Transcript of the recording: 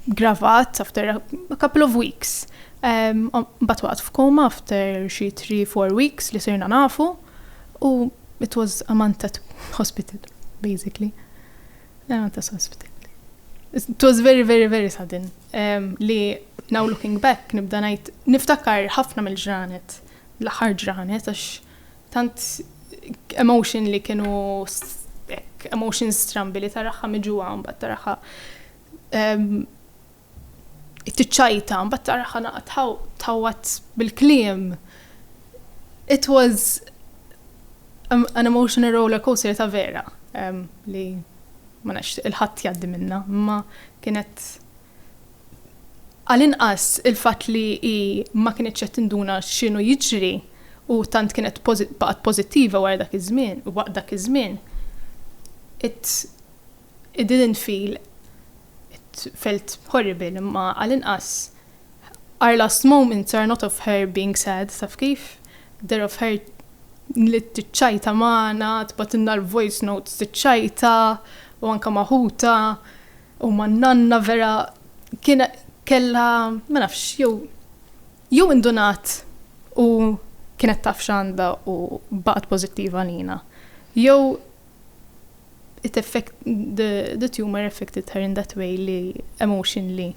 gravat after a couple of weeks. Um, but waqt f'koma after xi 3-4 weeks li sirna nafu u it was a month at hospital, basically. A month at hospital. It was very, very, very sudden. Um, li now looking back nibda najt, niftakar ħafna mill-ġranet, l-aħħar ġranet, għax Tant emotion li kienu hekk emotions strambi li taraha miġuha mbagħad taraha ehm, tiċċajta mbagħad taraha naqgħa tħawwat bil-kliem. It was an emotional roller coaster ta' vera ehm, li ma nafx il-ħadd jgħaddi minna, imma kienet Għall-inqas il-fatt li hi ma kinitx qed tinduna x'inhu jiġri u tant kienet baqgħet pożittiva wara dak iż-żmien, waqt dak iż-żmien, it, it didn't feel, it felt horrible, imma għall-inqas our last moments are not of her being sad, taf kif? They're of her li tiċċajta magħna, tibgħatilna l-voice notes tiċċajta u anke ma' ħutha. U ma n-nanna vera kien kellha ma nafx jew jew indunat u kienet taf x'għandha u baqgħet pożittiva għalina. Jew it effect the, the tumor affected her in that way li emotionally.